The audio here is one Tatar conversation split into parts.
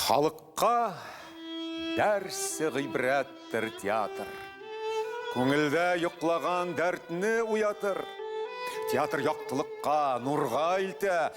Халыкка дәрсе гыйбрәттер театр. Күңелдә йоклаган дәртне уятыр. Театр яктылыкка, нурга илтә,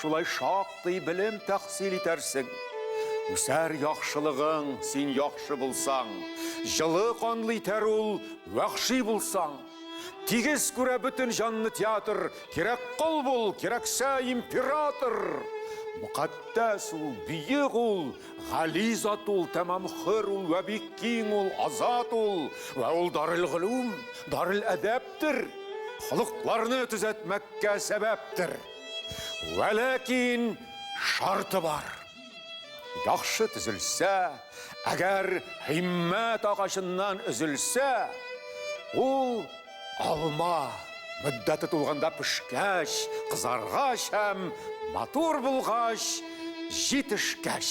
шулай шактый белем тәхсил итәрсең. Үсәр яхшылыгың, син яхшы булсаң, җылы канлы итәр ул, вәхши булсаң. Тигез күрә бөтен җанны театр, кирәк кол бул, кирәксә император. Мөкатдәс ул, бөек ул, гали зат ул, тәмам хөр ул, вә бик киң ул, азат ул, вә ул дарел гөлүм, дарел әдәптер, холыкларны төзәтмәккә сәбәптер. Вәләкин шарты бар. Яхшы төзелсә, әгәр һиммәт агачыннан өзелсә, ул алма мөддәте тулганда пешкәч, кызаргач һәм матур булгач, җитешкәч.